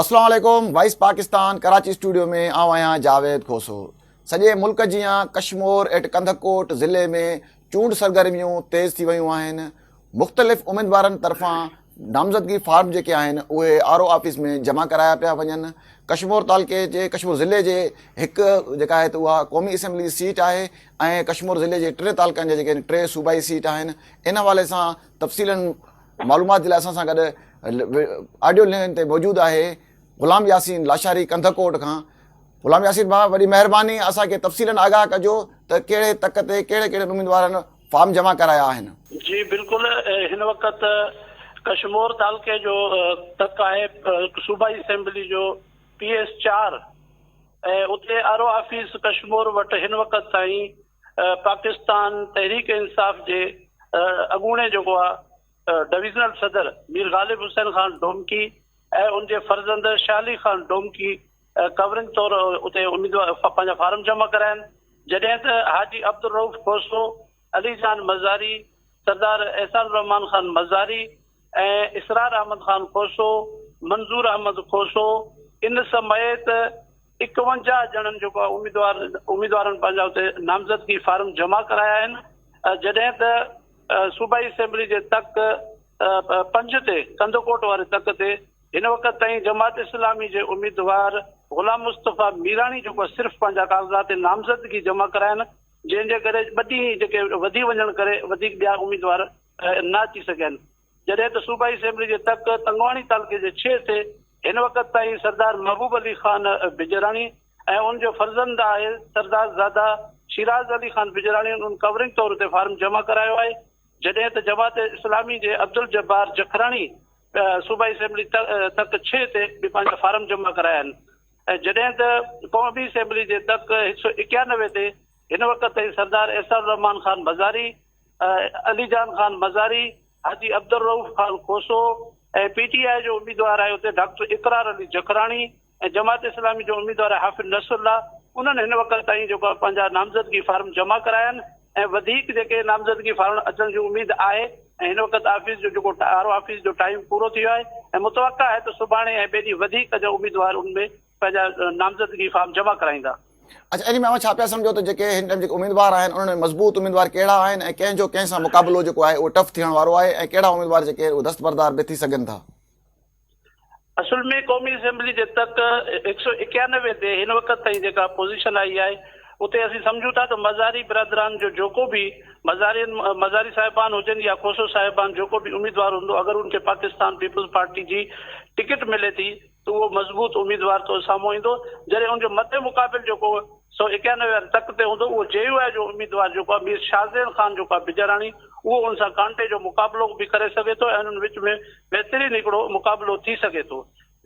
اسلام عليڪم voice Pakistan Karachi studio ۾ آئون آهيان جاويد کوسو سڄي ملڪ جيان ڪشمور ايٽ ڪنڌڪوٽ ضلعي ۾ چونڊ سرگرميون تيز ٿي ويون آهن مختلف اميدوارن طرفان نامزدگي فارم جيڪي آهن اهي آر او آفيس ۾ جمع ڪرايا پيا وڃن ڪشمور تعلقي جي ڪشمور ضلعي جي هڪ جيڪا آهي اها قومي اسيمبلي سيٽ آهي ۽ ڪشمور ضلعي جي ٽي تعلقن جا جيڪي ٽي صوبائي سيٽ آهن ان حوالي سان تفصيلاً معلومات جي لاء اسان سان گڏ آڊيو لائين تي موجود آهي غلام ياسين لاشاري ڪنڌڪوٽ کان غلام ياسين ڀاء وڏي مهرباني اسان کي تفصيلاً آگاهه ڪجو ته ڪهڙي تڪ تي ڪهڙي ڪهڙي اميدوارن فارم جمع ڪرايا آهن. جي بلڪل هن وقت ڪشمور تعلقي جو تڪ آهي صوبائي اسيمبلي جو پي ايس چار ۽ اتي آر او آفيس ڪشمور وٽ هن وقت تائين پاڪستان تحريڪ انصاف جي اڳوڻي جيڪو آ ڊويزنل صدر مير غالب حسين خان ڊومڪي ۽ ان جي فرزند شاھ علي خان ڊومڪي ڪورنگ طور اتي اميدوار پنهنجا فارم جمع ڪراين جڏهن ته حاجي عبدالروف کوسو، علي جان مزاري، سردار احسان الرحمان خان مزاري، ۽ اسرار احمد خان کوسو، منظور احمد کوسو ان سميت اڪونجاهه ڄڻن جيڪو اميدوار اميدوارن پنهنجا اتي نامزدگي فارم جمع ڪرايا آهن جڏهن ته صوبائي اسيمبلي جي تڪ پنج تي ڪنڌڪوٽ واري تڪ تي هن وقت تائين جماعت اسلامي جي اميدوار غلام مصطفيٰ ميراڻي جيڪو صرف پنهنجا ڪاغذات نامزدگي جمع ڪرايا آهن جنهن جي ڪري ٻه ڏينهن جيڪي وڌي وڃڻ ڪري وڌيڪ ٻيا اميدوار نه اچي سگهين، جڏهن ته صوبائي اسيمبلي جي تڪ تنگواڻي تعلقي جي ڇهه تي هن وقت تائين سردار محبوب علي خان بجراڻي ۽ ان جو فرزند آهي سردار زاده شيراز علي خان بجراڻي ان ڪورنگ طور تي فارم جمع ڪرايو آهي جڏهن ته جماعت اسلامي جي عبدالجبار جکراڻي صوبائي اسيمبلي تڪ ڇهه تي به پنهنجا فارم جمع ڪرايا آهن ۽ جڏهن ته قومي اسيمبلي جي تڪ هڪ سؤ ايڪيانوي تي هن وقت تائين Sardar Ahsan ur Rehman Khan Bazari Ali Jan Khan Mazari, Haji Abdul Rauf Khan Khoso ۽ P T I جو اميدوار آهي اتي ڊاڪٽر اقرار علي جکراڻي ۽ جماعت اسلامي جو اميدوار آهي حافظ نصرالله انهن هن وقت تائين جيڪو پنهنجا نامزدگي فارم جمع ڪرايا آهن ۽ وڌيڪ جيڪي نامزدگي فارم اچڻ جي اميد آهي ۽ هن وقت آفيس جو جيڪو آر او آفيس جو ٽائيم پورو ٿي ويو آهي ۽ متوقع آهي ته سڀاڻي ۽ ٻئي ڏينهن وڌيڪ جا اميدوار ان ۾ پنهنجا نامزدگي فارم جمع ڪرائيندا. اچا ان ۾ اوهان ڇا پيا سمجهو ته جيڪي هن ٽائيم جيڪي اميدوار آهن انهن ۾ مضبوط اميدوار ڪهڙا آهن ۽ ڪنهن جو ڪنهن سان مقابلو جيڪو آهي اهو ٽف ٿيڻ وارو آهي ۽ ڪهڙا اميدوار جيڪي آهن اهي دستبردار به ٿي سگهن ٿا. اصل ۾ قومي اسيمبلي جي تڪ هڪ سؤ ايڪيانوي تي هن وقت تائين جيڪا پوزيشن آئي آهي اتي اسين سمجهون ٿا ته مزاري برادران جو جيڪو به مزارين مزاري صاحبان هجن يا کوسو صاحبان جيڪو به اميدوار هوندو اگر ان کي پاڪستان پيپلز پارٽي جي ٽڪيٽ ملي ٿي ته اهو مضبوط اميدوار تو سامهون ايندو جڏهن ان جو مد مقابل جيڪو سؤ ايڪانوي واري تڪ تي هوندو اهو جي يو آء جو اميدوار جيڪو آهي مير شاهزين خان جيڪو آهي بجاراڻي اهو ان سان ڪانٽي جو مقابلو به ڪري سگهي ٿو ۽ انهن وچ ۾ بهترين هڪڙو مقابلو ٿي سگهي ٿو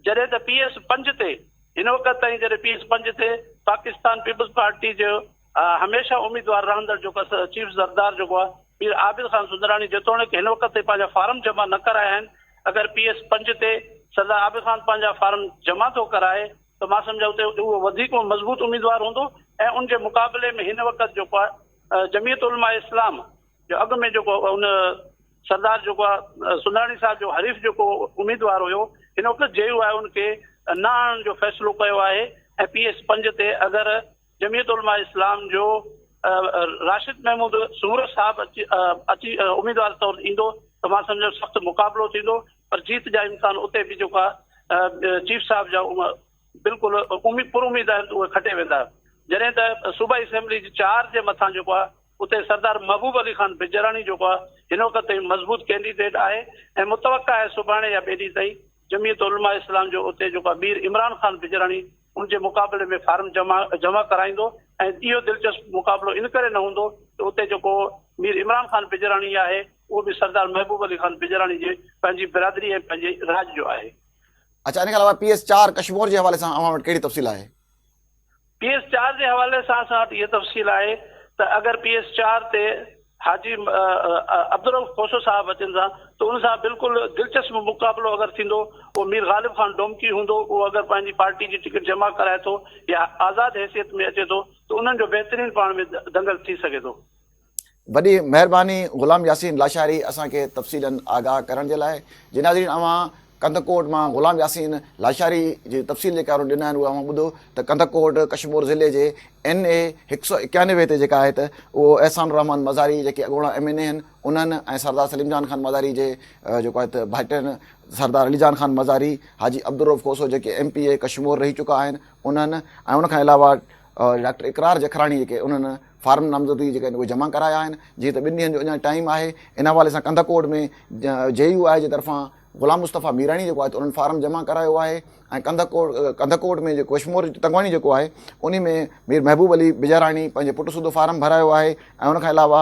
جڏهن ته پي ايس پنج تي هن وقت تائين جڏهن پي ايس پنج تي پاڪستان پيپلز پارٽي جو هميشه اميدوار رهندڙ جيڪو چيف زردار جيڪو آهي پير عابد خان سندراڻي جيتوڻيڪ هن وقت تائين پنهنجا فارم جمع نه ڪرايا آهن اگر پي ايس پنج تي سردار عابد خان پنهنجا فارم جمع ٿو ڪرائي ته مان سمجهان اتي اهو وڌيڪ مضبوط اميدوار هوندو ۽ ان جي مقابلي ۾ هن وقت جيڪو آهي جميعت علماء اسلام جو اڳ ۾ جيڪو ان سردار جيڪو آهي سندراڻي صاحب جو حريف جيڪو اميدوار هيو هن وقت جي يو آء ان کي نه آڻڻ جو فيصلو ڪيو آهي ۽ پي ايس پنج تي اگر جميعت علماء اسلام جو راشد محمود سمورو صاحب اچي اميدوار طور ايندو ته مان سمجهان ٿو سخت مقابلو ٿيندو پر جيت جا امڪان اتي به جيڪو آهي چيف صاحب جا بلڪل پر اميد آهن ته اهي کٽي ويندا جڏهن ته صوبائي اسيمبلي جي چار جي مٿان جيڪو آهي اتي سردار محبوب علي خان بجراڻي جيڪو آهي هن وقت تائين مضبوط ڪينڊيڊيٽ آهي ۽ متوقع آهي سڀاڻي يا ٻئي ڏينهن تائين جميعت علماء اسلام جو اتي جيڪو آهي مير عمران خان بجراڻي ان جي مقابلي ۾ فارم جمع ڪرائيندو ۽ اهو دلچسپ مقابلو ان ڪري نه هوندو ته اتي جيڪو مير عمران خان پڄراڻي آهي اهو به سردار محبوب علي خان پڄراڻي جي پنهنجي برادري ۽ پنهنجي راڄ جو آهي. اڇا ان کان علاوه پي ايس چار ڪشمور جي حوالي سان اوهان وٽ ڪهڙي تفصيل آهي؟ پي ايس چار جي حوالي سان اسان وٽ اها تفصيل آهي ته اگر پي ايس چار تي حاجي عبدالرؤف کوسو صاحب اچن ٿا ته ان سان بلڪل دلچسپ مقابلو اگر ٿيندو اهو مير غالب خان ڊومڪي هوندو اهو اگر پنهنجي پارٽي جي ٽڪيٽ جمع ڪرائي ٿو يا آزاد حيثيت ۾ اچي ٿو ته انهن جو بهترين پاڻ ۾ دنگل ٿي سگهي ٿو. وڏي مهرباني غلام ياسين لاشاري اسان کي تفصيلن آگاهه ڪرڻ جي لاء جي ناظرين اوهان ڪنڌڪوٽ مان غلام ياسين لاشاري جي تفصيل جيڪا هن ڏنو آهن اهو اوهان ٻڌو ته ڪنڌڪوٽ ڪشمور ضلعي جي اين اي هڪ سؤ اڪيانوي تي جيڪا آهي ته اهو احسان الرحمان مزاري جيڪي اڳوڻا ايم اين اي هن انهن ۽ سردار سليم جان خان مزاري جي جيڪو آهي ته ڀائٽين سردار علي جان خان مزاري حاجي عبدالروف کوسو جيڪي ايم پي اي ڪشمور رهي چڪا آهن انهن ۽ ان کان علاوه ڊاڪٽر اقرار جکراڻي جيڪي انهن فارم نامزدگي جيڪي آهن اهي جمع ڪرايا آهن جيئن ته ٻن ڏينهن جو اڃا ٽائيم آهي ان حوالي سان ڪنڌ ڪوٽ ۾ جي يو آء جي طرفان غلام مصطفيٰ ميراڻي جيڪو آهي ته انهن فارم جمع ڪرايو آهي ۽ ڪنڌ ڪوٽ ڪنڌ ڪوٽ ۾ جيڪو اشمور تنگواڻي جيڪو آهي ان ۾ مير محبوب علي بجاراڻي پنهنجي پٽ سوڌو فارم ڀرايو آهي ۽ ان کان علاوه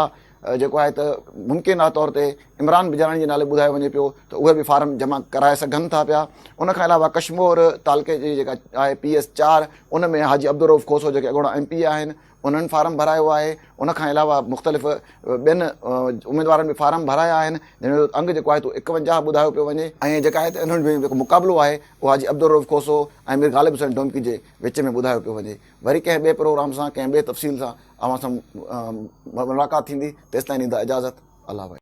جيڪو آهي ته ممڪن آ طور تي عمران بجاراڻي جي نالي ٻڌايو وڃي پيو ته اهي به فارم جمع ڪرائي سگهن ٿا پيا ان کان علاوه ڪشمور تعلقي جي جيڪا آهي پي ايس چار ان ۾ حاجي عبدالروف کوسو جيڪي اڳوڻا ايم پي اي آهن انهن فارم ڀرايو آهي ان کان علاوه مختلف ٻين اميدوارن به فارم ڀرايا آهن جن جو انگ جيڪو آهي تو اڪونجاهه ٻڌايو پيو وڃي ۽ جيڪا آهي ته انهن جو جيڪو مقابلو آهي اهو حاجي عبدالرؤف کوسو ۽ مير غالب حسين ڊومڪي جي وچ ۾ ٻڌايو پيو وڃي وري ڪنهن ٻئي پروگرام سان ڪنهن ٻئي تفصيل سان اوهان سان ملاقات ٿيندي تيستائين ڏيندا اجازت الله وحيد.